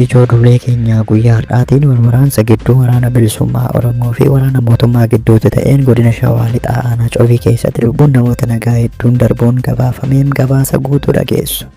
Ijoo duulee keenya guyyaa har'aatiin wal waraansa gidduu waraana bilisummaa Oromoo fi waraana mootummaa gidduutti ta'een godina Shawaa Lixaa aanaa Covii keessatti lubbuun namoota nagaa hedduun darbuun gabaafameen gabaasa guutuu dhageessu.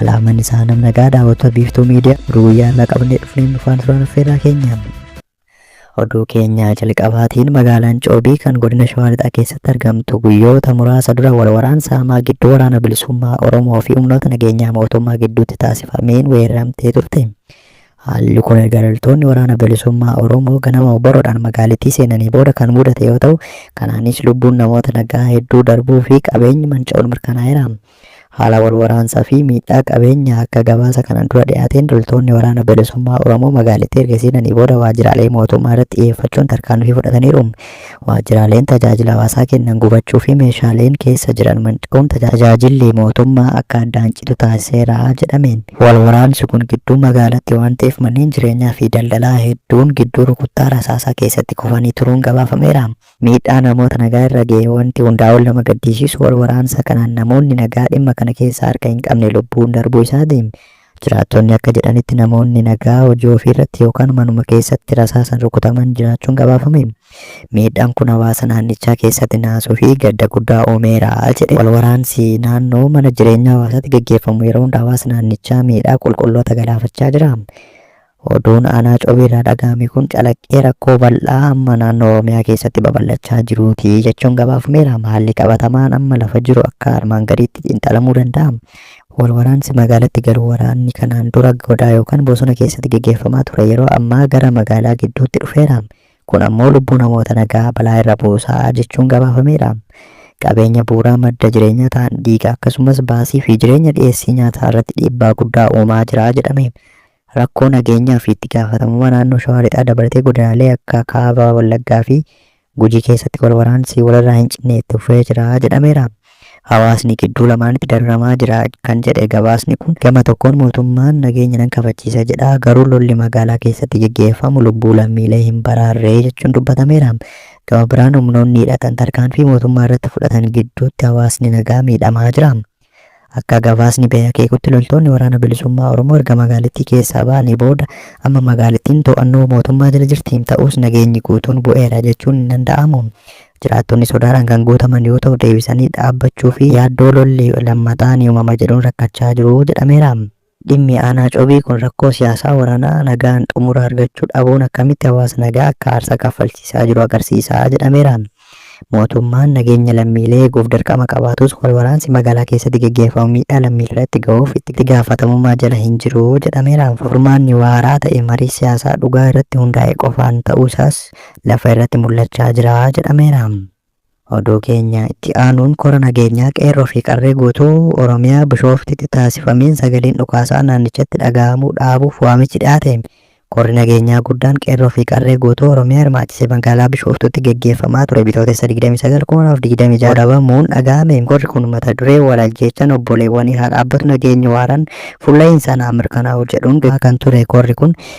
Alaaman isaa nam nagaa daawwattoota biiftuu miidiyaa ruuyyaa irraa qabannee dhufneen dhufaan suuraan affeerraa keenya. Oduu keenya jalqabaatiin magaalaan Coobii kan godina Shawaa Lixaa keessatti argamtu guyyoota muraasa dura wal waraansa hamaa gidduu waraana bilisummaa Oromoo fi humnoota nageenyaa mootummaa gidduutti taasifameen weeraramtee turte. Haalli kun erga loltoonni waraana bilisummaa Oromoo ganama obboroodhaan magaalittii seenanii booda kan mudate yoo ta'u, kanaanis lubbuun namoota nagaa hedduu darbuu fi qabeenyi manca'uun mirkanaa'eera. Haala wal waraansaa fi miidhaa qabeenyaa akka gabaasa kanaan dura dhiyaateen loltoonni Waraana Bilisummaa Oromoo magaalittii erga seenanii booda waajjiraalee mootummaa irratti xiyyeeffachuun tarkaanfii fudhataniiru. Waajjiraaleen tajaajila hawaasaa kennan gubachuu fi meeshaaleen keessa jiran manca'uun tajaajilli mootummaa akka addaan citu taasiseera jedhame. Wal waraansi kun gidduu magaalaatti waan ta'eef manneen jireenyaa fi daldalaa hedduun gidduu rukuttaa rasaasaa keessatti kufanii turuun gabaafameera. Miidhaa namoota nagaa irra gahe wanti hundaa ol nama gaddiisiisu wal waraansa kanaan namoonni nagaa dhimma kana keessaa harka hin qabne lubbuun darbuu isaatiin jiraattonni akka jedhanitti namoonni nagaa hojii ofii irratti yookaan manuma keessatti rasaasan rukutaman jiraachuun gabaafame. Miidhaan kun hawaasa naannichaa keessatti naasuu fi gadda guddaa uumeera jedhe. Wal waraansi naannoo mana jireenyaa hawaasaatti gaggeeffamu yeroo hunda hawaasa naannichaa miidhaa qulqulloota galaafachaa jira. Oduun Aanaa Cobeerraa dhagahame kun calaqqee rakkoo bal'aa amma naannoo Oromiyaa keessatti babal'achaa jiruuti jechuun gabaafameera. Haalli qabatamaan amma lafa jiru akka armaan gadiitti xiinxalamuu danda'a. Walwaraansi magaalatti galu waraanni kanaan dura godaa yookaan bosona keessatti geggeeffamaa ture yeroo ammaa gara magaalaa gidduutti dhufeera. Kun ammoo lubbuu namoota nagaa balaa irra buusa jechuun gabaafameera. Qabeenya bu'uuraa madda jireenyaa ta'an diiga akkasumas baasii fi jireenya dhiyeessii nyaataa irratti dhiibbaa guddaa uumaa jira jedhame. rakkoo nageenyaa fi itti gaafatamummaa naannoo Shawaa Lixaa dabalatee godinaalee akka Kaaba Wallaggaa fi Gujii keessatti wal waraansi walirraa hin cinne itti fufee jira jedhameera. Hawaasni gidduu lamaanitti dararamaa jira kan jedhe gabaasni kun, gama tokkoon mootummaan nageenya nan kabachiisa jedha, garuu lolli magaalaa keessatti geggeeffamu lubbuu lammiilee hin baraarre jechuun dubbatameera. Gama biraan humnoonni hidhatan tarkaanfii mootummaa irratti fudhatan gidduutti hawaasni nagaa miidhamaa jira. Akka gabaasni bahe akeekutti loltoonni Waraana Bilisummaa Oromoo erga magaalittii keessaa bahanii booda amma magaalittiin to'annoo mootummaa jala jirti. Ta'us nageenyi guutuun bu'eera jechuun hin danda'amu. Jiraattonni sodaadhaan kan guutaman yoo ta'u deebisanii dhaabbachuu fi yaaddoo lolli lammataa ni uumama jedhuun rakkachaa jiru jedhameera. Dhimmi Aanaa Cobii kun rakkoo siyaasaa, waranaa, nagaan xumura argachuu dhabuun akkamitti hawaasa nagaa akka aarsaa kaffalchiisaa jiru agarsiisa jedhameera. Mootummaan nageenya lammiilee eeguuf dirqama qabaatus wal waraansi magaalaa keessatti geggeeffamu miidhaa lammiileerratti gahuuf itti gaafatamummaa jala hin jiru jedhameera. Furmaanni waaraa ta'e marii siyaasaa dhugaa irratti hundaa'e qofaan ta'uu isaas lafa irratti mul'achaa jira jedhameera. Oduu keenya itti aanuun kora nageenyaa Qeerroo fi Qarree guutuu Oromiyaa Bishooftitti taasifameen sagaleen dhukaasaa naannichatti dhaga'amuu dhaabuuf waamichi dhiyaate Korri nageenyaa guddaan Qeerroo fi Qarree guutuu Oromiyaa hirmaachise magaalaa Bishooftuutti geggeeffamaa ture Bitootessa 29/2026 goolabamuun dhaga'ame. Korri kun mata duree Wal ajjeechaan obboleewwanii haa dhaabbatu nageenyi waaraan fuulla'insaan haa mirkanaa'u jedhuun geggeeffamaa kan ture korri kun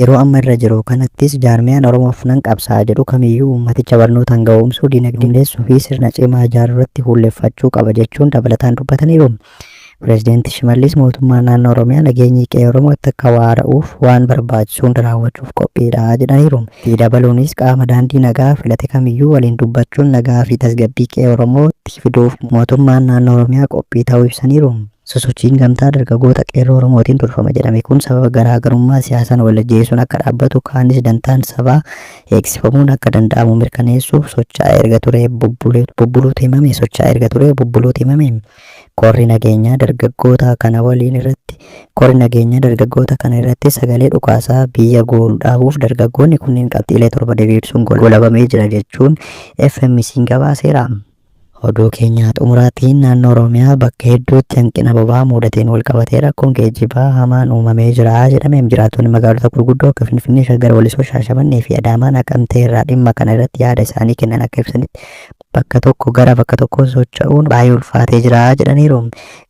Yeroo amma irra jiru kanattis jaarmiyaan Oromoof nan qabsaa'a jedhu kamiyyuu uummaticha barnootaan gahoomsuu, diinagdee hundeessuu fi sirna cimaa ijaaruurratti fuulleffachuu qaba jechuun dabalataan dubbataniiru. Pireezidanti Shimallis mootummaan naannoo Oromiyaa nageenyi qe'ee Oromootti akka waara'uuf waan barbaachisu hunda raawwachuuf qophiidha jedhaniiru. Itti dabaluunis qaama daandii nagaa filate kamiyyuu waliin dubbachuun nagaa fi tasgabbii qe'ee Oromootti fiduuf mootummaan naannoo Oromiyaa qophii ta'uu ibsaniiru. Sosochiin Gamtaa Dargagoota Qeerroo Oromootiin durfama jedhame kun sababa garaa garummaa siyaasaan wal ajjeesuun akka dhaabbatu kaanis dantaan sabaa eegsifamuun akka danda'amu mirkaneessuuf socha'aa erga turee bubbuleetu bubbuluutu himame socha'aa erga turee bubbuluutu himame Korri Nageenyaa Dargaggootaa kana waliin irratti Korri Nageenyaa Dargaggoota kana irratti sagalee dhukaasaa biyya goolu dhaabuuf dargaggoonni kunniin qabxiilee torba diriirsuun golabamee jira jechuun FMC'n gabaaseera. Oduu keenya xumuraatiin naannoo Oromiyaa bakka hedduutti hanqina boba'aa muudateen walqabatee rakkoon geejjibaa hamaan uumamee jira jedhame. Jiraattonni magaalota gurguddoo akka Finfinnee, Shaggar, Walisoo, Shaashamannee fi Adaamaa, Naqamtee irraa dhimma kana irratti yaada isaanii kennan akka ibsanitti bakka tokko gara bakka tokkoo socha'uun baay'ee ulfaatee jira jedhaniiru.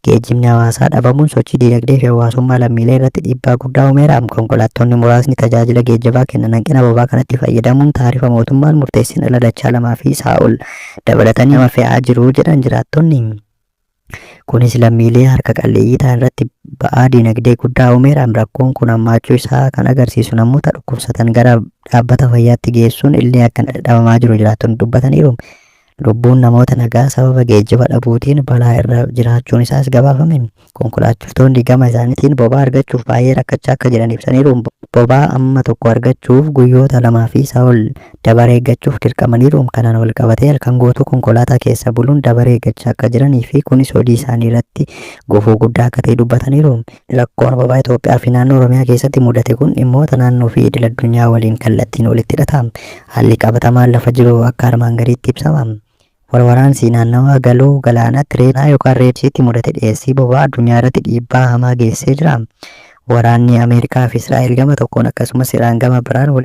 Geejjibni hawaasaa dhabamuun sochii diinagdee fi hawaasummaa lammiilee irratti dhiibbaa guddaa uumeera. Konkolaattonni muraasni tajaajila geejjibaa kennan hanqina bobaa kanatti fayyadamuun taarifa mootummaan murteesseen irra dachaa lamaa fi isaa ol dabalatanii nama fe'aa jiru jedhan jiraattonni. Kunis lammiilee harka qalleeyyii ta'an irratti ba'aa diinagdee guddaa uumeera. Rakkoon kun hammaachuu isaa kan agarsiisu namoota dhukkubsatan gara dhaabbata fayyaatti geessuun illee akka dhabamaa jiru jiraattonni dubbataniiru. Lubbuun namoota nagaa sababa geejjiba dhabuutiin balaa irra jiraachuun isaas gabaafame. Konkolaachiftoonni gama isaaniitiin bobaa argachuuf baay'ee rakkachaa akka jiran ibsaniiru. Bobaa amma tokko argachuuf guyyoota lamaa fi isaa ol dabaree eeggachuuf dirqamaniiru. Kanaan walqabatee halkan guutuu konkolaataa keessa buluun dabaree eeggachaa akka jiranii fi kunis hojii isaanii irratti gufuu guddaa akka ta'e dubbataniiru. Rakkoon Ababaa Itoophiyaa fi Naannoo Oromiyaa keessatti mudate kun dhimmoota naannoo fi idil addunyaa waliin kallattiin walitti hidhata. Haalli qabatamaan lafa jiru akka armaan gadiitti ibsama. Walwaraansii naannawaa Galoo Galaanaa Tireenaa yookaan Reed Siiti mudate dhiyeessii boba'aa addunyaa irratti dhiibbaa hamaa geessee jira. Waraanni Ameerikaa fi Israa'el gama tokkoon akkasumas Iraan gama biraan wal